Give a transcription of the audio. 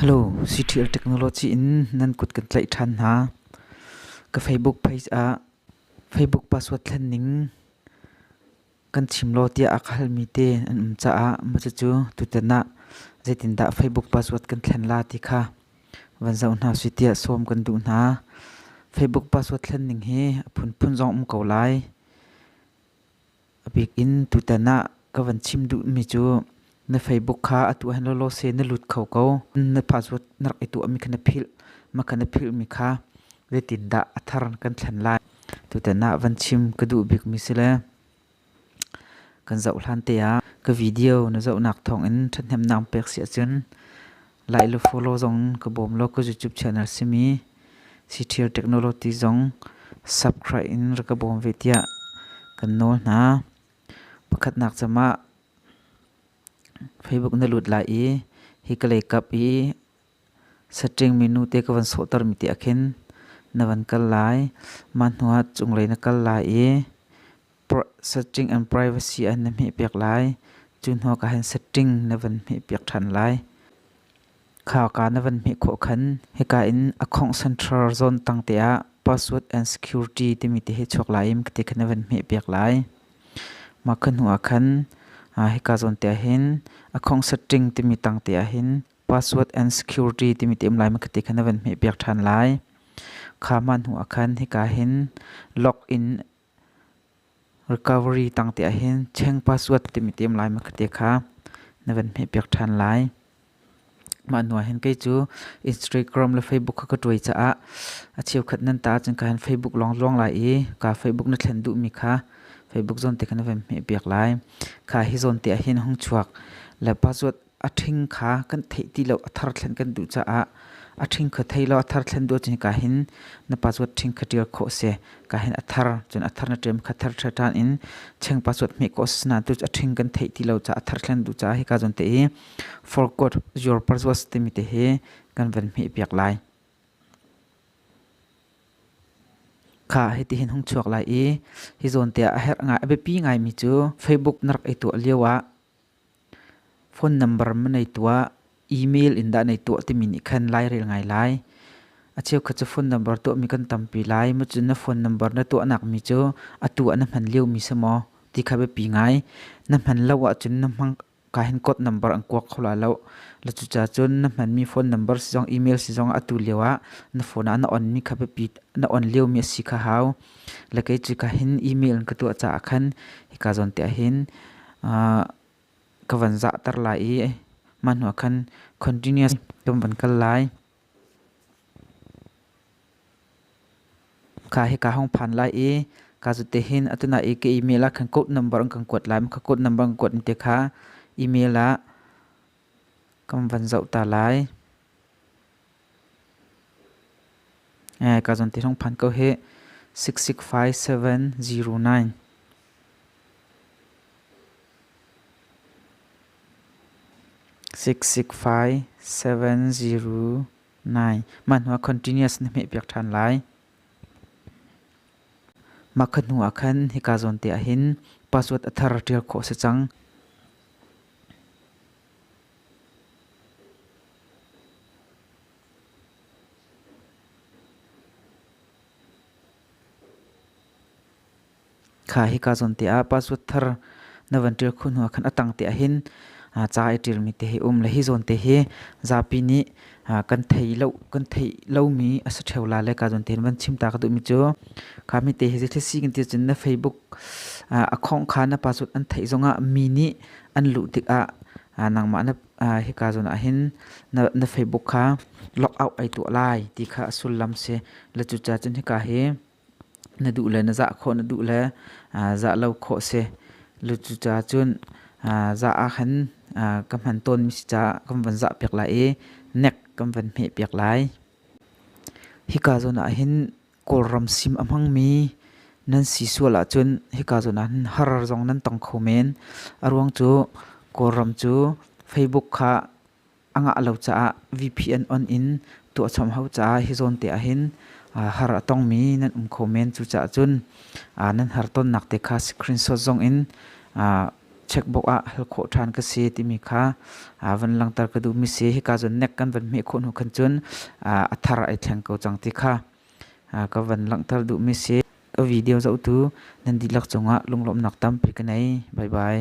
Hello, Citril Technology in nan kut kan tlaih ṭhan hna. Ka Facebook page ah Facebook password thlen ning kan chim law tiah a ka halmi te an um caah mah cucu tutan ah zeitindah Facebook password kan thlen la ti kha van zoh hna sih tiah sawm kan duh hna. Facebook password thlen ning hi a phunphun zong um ko lai. A bik in tutan ah ka van chim duhmi cu na Facebook kha atu hen lawlaw se na lut kho ko. Na password na rak i tuahmi kha na philh. Mah kha na philhmi kha zeitindah a thar kan thlen lai? Tutan ah van chim ka duh bikmi si le kan zoh hlan te ah ka video na zohnak thawngin ṭhathnemnak pek si ahcun Lai le folo zong ka bawm lo ka YouTube channel simi Citial Technology zong subscribe in rak ka bawm ve tiah kan nawl hna. Pakhatnak camah Facebook na lut lai i hi ka leikap i setting menu te ka van sawhtermi te ah khin na van kal lai. Mah hnuah cunglei na kal lai i setting and privacy an na hmehpiak lai. Cu hnu ka han setting na van hmehpiak ṭhan lai. Kha ka na van hmeh khawh khan hika in account central zone tang te ah password and security timi te hi chuak lai im kati kha na van hmehpiak lai. Ma kha hnu ah khan hika zone te ah hin account setting timi tang te ah hin password and security timi te um lai ma kati kha na van hmehpiak ṭhan lai. Kha ma hnu ah khan hika hin login Recovery tangte ahhin cheng password timi ti um lai ma ka ti kha na van hmehpiak ṭhan lai. Mah hnu ahhin kei cu Instagram le Facebook kha ka ṭuai caah a cheukhat nan ta ahcun ka han Facebook lawng zuang lai i ka Facebook na thlen duhmi kha Facebook zawn te kha na van hmehpiak lai. Kha hi zawn te ahhin hung chuak le password a ṭhing kha kan theih ti lo a thar thlen kan duh caah a ṭhing kha thei law a thar thlen duh cun ka hin na pa cuat ṭhing kha ṭial khawh si ka hin a thar cun a thar na ṭem kha thar ṭha ṭhan in cheng pa cuat hmek ko sna tu a ṭhing kan theih ti lo ca a thar thlen duh caah hika zon te i forgot your purpose timi te hi kan van hme piak lai kha hiti hin hung chuak lai i hi zawn te ah a herh ngai a biapi ngai mi cu facebook na rak i tuah lio ah Phone number na nei tuah, email in dah nei tuah timi nih khan lairel ngai lai. A cheukhat cu phone number tuahmi kan tampi lai. Macun na phone number na tuahnakmi cu atu ah na hman liomi si maw ti kha biapi ngai. Na hman lo ahcun na hmangka hin code number an kuak kho lai lo. Le cucaah cun na hmanmi phone number si zong email si zong atu lio ah na phone ah na onmi kha biapi, na on liomi a si kha hau. Le kei cu ka hin email in ka tuah caah khan hika zawn te ah hin ah ka van zahter lai i mah hnuah khan continuous kan van kal lai. Kha hi ka hong phan lai i ka zute hin atu na i ka email ah khan code number an kan kuat lai. Ka code number an kuat in te kha email ah Kan van zoh ta lai. Ka zawn ti hong phan ko hi. 6657009 6657009 Mah hnu ah continuous na hmeh piak ṭhan lai. Mah khat hnu ah khan hika zawn te ah hin password a thar ṭial khawh a si cang. Kha hika zawn te ah password thar na van ṭial khawh hnuah khan a tang te ah hin ca i ṭialmi te hi um. Le hi zawn te hi zapi nih kan thei lo kan thei lomi a si theo la le ka don ten van chim ta ka duhmi cu kha mi te hi thil si kan ti cun na facebook a khong kha na pa sut an thei zongah mi nih an luh tik ah nangmah na hi ka zon ah hin na facebook kha log out ai tuah lai ti kha a sullam si le cu ca cun hika hi na duh le na zah khawh na duh le zah lo khawh si. Cucaah cun zah ahkhan ka hman tawnmi si caah kan van zah piak lai i nek kan van hmeh piak lai. Hika zawn ahhin Kawlram sim a hmangmi nan si sual ahcun hika zawn ahhin har zong nan tong kho men. A ruang cu Kawlram cu Facebook kha A ngah lo caah VPN on in tuahchom hau caah hi zawn te ah hin har a tongmi nan um kho men. Cucaah cun nan har tonnak te kha screenshot zong in checkbook ah hal khawh ṭhan ka si timi kha van langhter ka duhmi si. Hika cun nek kan van hmeh khawh hnu khan cun a thar ai thleng ko cang ti kha ka van langhter duhmi si. Ka video zohtu nan dihlak cungah lunglawmhnak tampi ka nei. Bye bye.